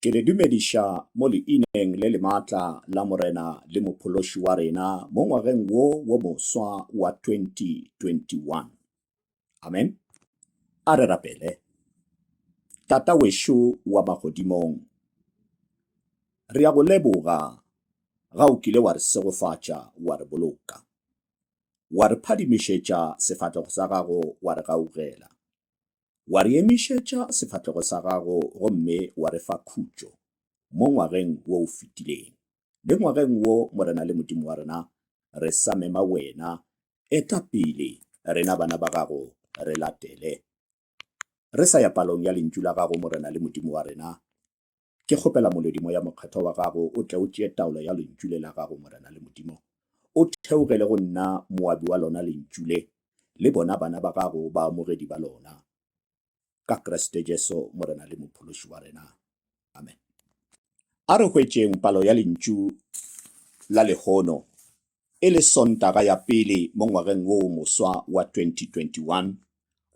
Ke le dumediša mo leineng le lematla la Morena le Mophološi wa rena mo ngwageng wo wo moswa wa 2021. Amen. A re rapele. Tata wešo wa magodimong, re a go leboga ga o kile wa re segofatša, wa re boloka, wa re phadimišetša sefatlego sa gago, wa re gaugela. Wa re emišetša sefahlego sa gago gomme wa re fa khutšo mo ngwageng wo o fetileng. Le ngwageng wo, Morena le Modimo wa rena, re sa mema Wena, eta pele, rena bana ba Gago re latele. Re sa ya palong ya Lentšu la Gago, Morena le Modimo wa rena, Ke kgopela Molodi Moya Mokgethwa wa Gago o tle o tšee taolo ya Lentšu le la Gago, Morena le Modimo. O theogele go nna moabi wa Lona Lentšu le, le bona bana ba Gago, baamogedi ba Lona. Ka Kriste Jesu, Morena le Mophološi wa rena. Amen. A re hwetšeng palo ya Lentšu la lehono e le Sontaga ya pele mo ngwageng wo moswa wa 2021.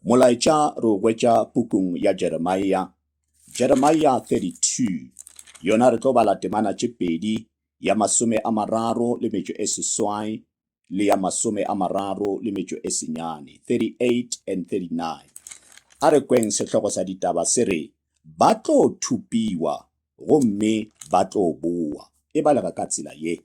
Molaetša re o hwetša pukung ya Jeremia, Jeremia 32, yona re tlo bala temana tše pedi, ya masome a mararo le metšo e seswai le ya masome a mararo le metšo e senyane, 38 and 39. A re kweng sehlogo sa ditaba se re, Ba tlo thupiwa gomme ba tlo bowa. E balega ka tsela ye.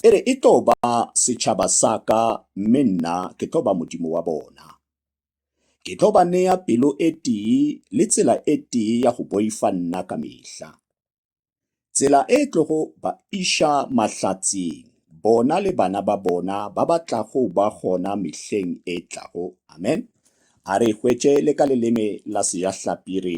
E re, E tlo ba setšhaba sa ka, mme nna ke tlo ba Modimo wa bona. Ke tlo ba nea pelo e tee le tsela e tee ya go boifa nna ka mehla, tsela e tlogo ba iša mahlatseng, bona le bana ba bona ba ba tlago ba gona mehleng e tlago. Amen. A re e hwetše le ka leleme la Sejahlapi, e re,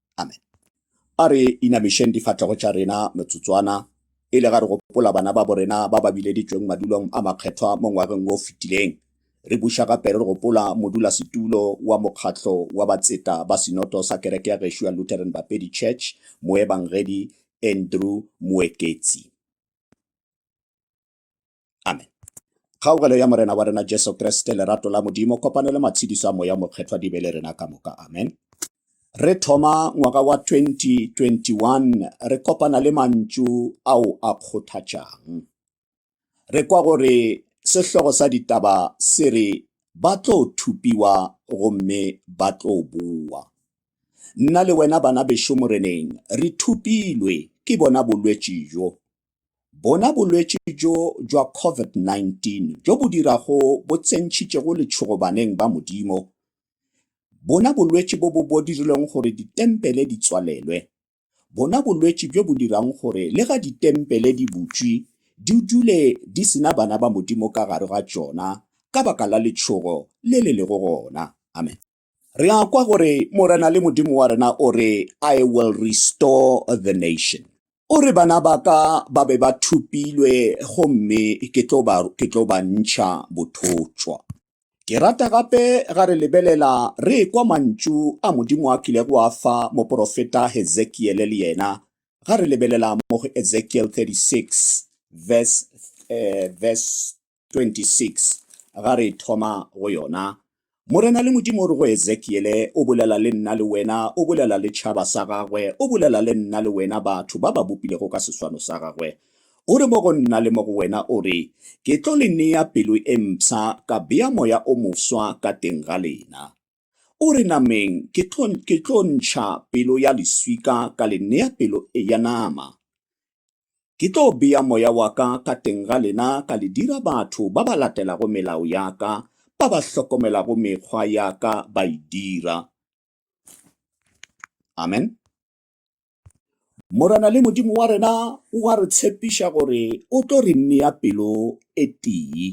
Amen. A re inamišeng difatlego tša rena metsotswana e le ga re gopola bana ba borena ba ba bileditšweng madulong a makgethwa mo ngwageng wo o fetileng. Re buša gape re gopola modulasetulo wa mokgatlo wa batseta ba sinoto sa kereke ya gešo ya Lutheran Bapedi Church, Moebangedi Andrew Moeketsi. Amen. Kgaogelo ya Morena wa rena Jesu Kriste, lerato la Modimo, kopano le matshediso a Moya Mokgethwa di be le rena ka moka. Amen. Re thoma ngwaga wa 2021 re kopana le mantšu ao a kgothatšang. Re kwa gore sehlogo sa ditaba se re ba tlo thupiwa gomme ba tlo boa. Nna le wena bana bešo Moreneng re thupilwe ke bona bolwetši bjo. bona bolwetši bjo bja COVID-19 bjo bo dirago bo tsentšhitšego letšhogo baneng ba Modimo, bona bolwetši bo bo bo dirilego gore ditempele di tswalelwe, bona bolwetši bjo bo dirago gore le ga ditempele di butšwi di dule di se na bana ba Modimo ka gare ga tšona ka baka la letšhogo le le lego gona. Amen. Re a kwa gore Morena le Modimo wa rena o re, I will restore the nation. O re bana ba ka ba be ba thupilwe gomme ke tlo ba, ke tlo ba ntšha bothotšwa. Ke rata gape ga re lebelela re ekwa mantšu a Modimo a kilego a fa moprofeta Hezekiele le yena, ga re lebelela mo go Ezekiel 36 verse, eh, verse 26 ga re thoma go yona, Morena le Modimo o re go Ezekiele, O bolela le nna le wena, o bolela le tšhaba sa gagwe, o bolela le nna le wena, batho ba ba bopilego ka seswano sa gagwe. O re mo go nna le mo go wena, o re, Ke tlo le nea pelo e mpsha, ka bea moya o moswa ka teng ga lena. O re nameng ke tlo, ke tlo ntšha pelo ya leswika ka le nea pelo e ya nama. Ke tlo bea Moya wa Ka ka teng ga lena ka le dira batho ba ba latelago melao ya Ka, ba ba hlokomelago mekgwa ya Ka ba e dira. Amen. Morena le Modimo wa rena o a re tshepiša gore o tlo re nea pelo e tee.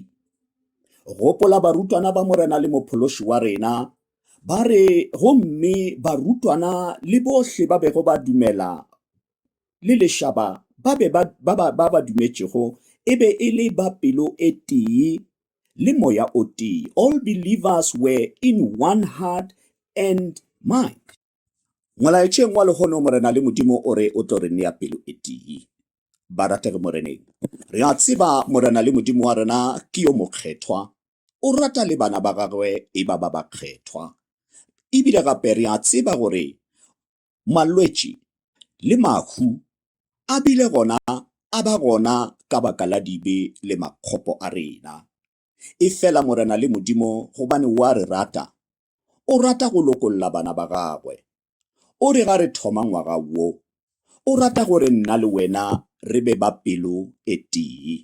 Gopola barutwana ba Morena le Mophološi wa rena ba re gomme barutwana le bohle ba bego ba dumela le lešaba ba be ba ba ba ba ba dumetšego e be e le ba pelo e tee le moya o tee all believers were in one heart and mind Molaetšeng wa lehono, Morena le Modimo o re o tlo re nea pelo e tee. Barategi Moreneng, re a tseba Morena le Modimo wa rena ke yo mokgethwa, o rata le bana ba gagwe e ba ba ba kgethwa. Ebile gape re a tseba gore malwetši le mahu a bile gona a ba gona ka baka la dibe le makgopo a rena. Efela Morena le Modimo gobane o a re rata, o rata go lokolla bana ba gagwe. O re ga re thoma ngwaga wo, o rata gore nna le wena re be ba pelo e tee.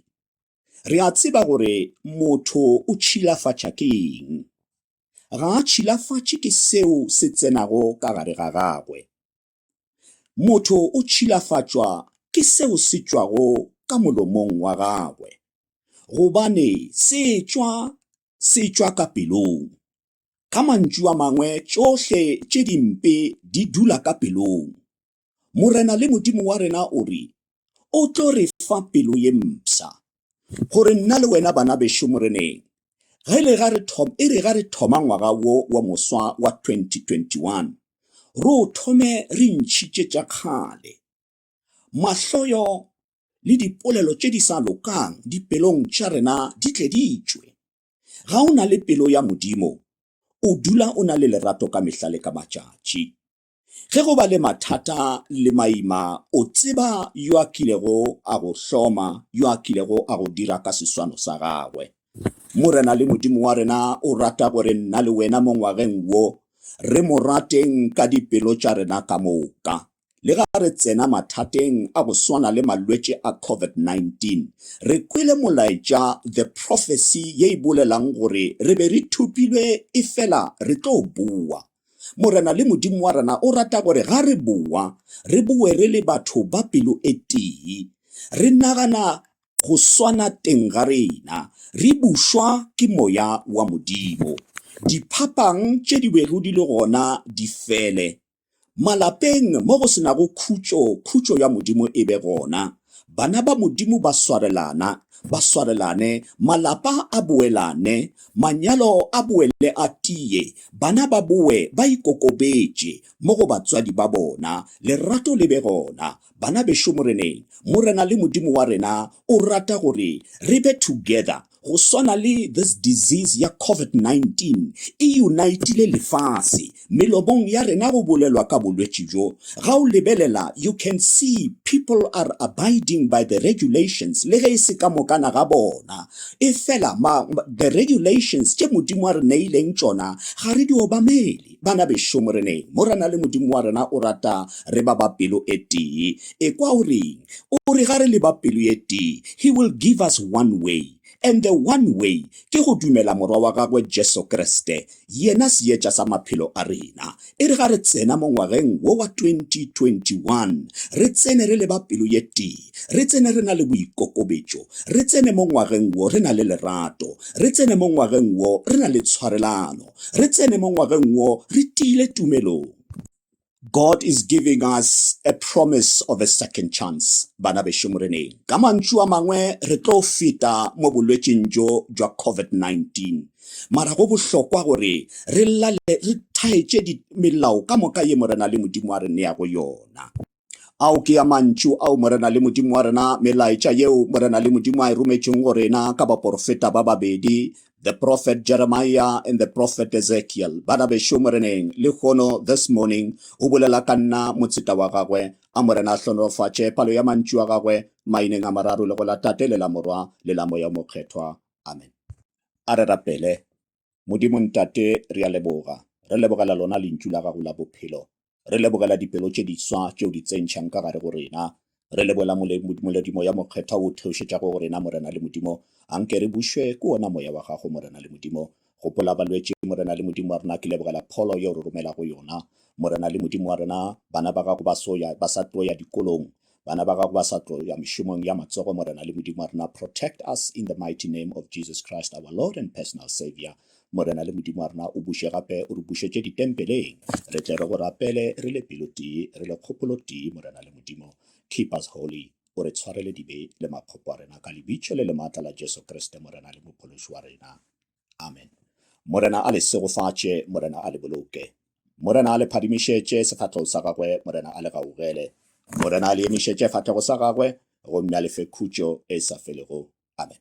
Re a tseba gore motho o tšhilafatša ke eng. Ga a tšhilafatše ke seo se tsenago ka gare ga gagwe. Motho o tšhilafatšwa ke seo se tšwago ka molomong wa gagwe, gobane se tšwa, se tšwa ka pelong. Ka mantšu a mangwe, tšohle tše dimpe di dula ka pelong. Morena le Modimo wa rena o re o tlo re fa pelo ye mpsha, gore nna le wena bana bešo moreneng ge le ga re thoma e re ga re thoma ngwaga wo wa moswa wa 2021 ro thome re ntšhitše tša kgale mahloyo le dipolelo tše di sa lokang dipelong tša rena di tle di tšwe ga o na le pelo ya modimo o dula o na le lerato ka mehla le ka matšatši Ge go ba le mathata le maima, o tseba yo a kilego a go hloma, yo a kilego a go dira ka seswano sa gagwe. Morena le Modimo wa rena o rata gore nna le wena mo ngwageng wo re mo rateng ka dipelo tša rena ka moka. Lega re tsena mathateng a go swana le malwetši a COVID-19, re kwele molaetša, the prophecy, ye e bolelang gore re be re thopilwe efela re tlo bowa. Morena le Modimo wa rena o rata gore ga re bowa, re bowe re le batho ba pelo e tee, re nagana go swana teng ga rena, re bušwa ke Moya wa Modimo. Diphapang tše di bego di le gona di fele. Malapeng mo go se nago khutšo, khutšo ya Modimo e be gona. Bana ba Modimo ba swarelana, ba swarelane, malapa a boelane, manyalo a boele a tie, bana ba bowe ba ikokobetše mo go batswadi ba bona, lerato le be gona. Bana bešo Moreneng, Morena le Modimo wa rena o rata gore re be together, Go swana le this disease ya COVID-19 e unitile lefase, melomong ya rena go bolelwa ka bolwetši bjo. Ga o lebelela you can see people are abiding by the regulations le ge e se ka mokana ga bona. Efela ma the regulations tše Modimo a re neileng tšona ga re di obamele. Bana bešo, Moreneng, mo re na le Modimo wa rena o rata re ba ba pelo e tee. Ekwa o reng? O re ga re le ba pelo e tee, He will give us one way. And the one way ke go dumela Morwa wa Gagwe Jesu Kriste, Yena Seetša sa maphelo a rena. E re ga re tsena mo ngwageng wo wa 2021, re tsene re le ba pelo e tee, re tsene re na le boikokobetšo, re tsene mo ngwageng wo re na le lerato, re tsene mo ngwageng wo re na le tshwarelano. re tsene mo ngwageng wo re tiile tumelong. God is giving us a promise of a second chance, bana bešo Moreneng. Ka mantšu a mangwe re tlo feta mo bolwetšing bjo bja COVID-19. Mara go bohlokwa gore re lale re thaetše melao ka moka ye Morena le Modimo a re neago yona. Ao ke a mantšu ao Morena le Modimo wa rena, melaetša yeo Morena le Modimo a e rometšeng go rena ka baporofeta ba babedi, the prophet Jeremiah and the prophet Ezekiel. Bana bešo Moreneng, lehono, this morning, o bolela ka nna, motseta wa gagwe. A Morena a hlonolofatše palo ya mantšu a gagwe, maineng a mararo le go la Tate le la Morwa le la Moya o Mokgethwa. Amen. A re rapele. Modimo Ntate, re a leboga. Re lebogela lona Lentšu la Gago la Bophelo. Re lebogela dipelo tše diswa tše O di tsentšhang ka gare go rena. Re leboela Moledimo ya Mokgethwa o O theošetšago go rena, Morena le Modimo. A nke re bušwe ke wona Moya wa Gago, Morena le Modimo. Gopola balwetši, Morena le Modimo wa rena, ke lebogela pholo ye O re romelago yona. Morena le Modimo wa rena, bana ba Gago ba so ya, ba sa tlo ya dikolong. Bana ba gago ba sa tlo ya mešomong ya matsogo, Morena le Modimo wa rena, protect us in the mighty name of Jesus Christ, our Lord and personal Savior. Morena le Modimo wa rena, o buše gape, o re bušetše ditempeleng. Re tle re go rapele, re le pelo tee, re le kgopolo tee, Morena le Modimo. Keep us holy. O re tshwarele dibe le makgopo a rena, ka lebitso le le maatla la Jesu Kriste, Morena le Mophološi wa rena. Amen. Morena a le segofatše, Morena a le boloke. Morena a le phadimišetše sefatlhego sa gagwe, Morena a le gaugele. Morena a le emišetše fatlhego sa gagwe, gomme a le fe khutšo e sa felego. Amen.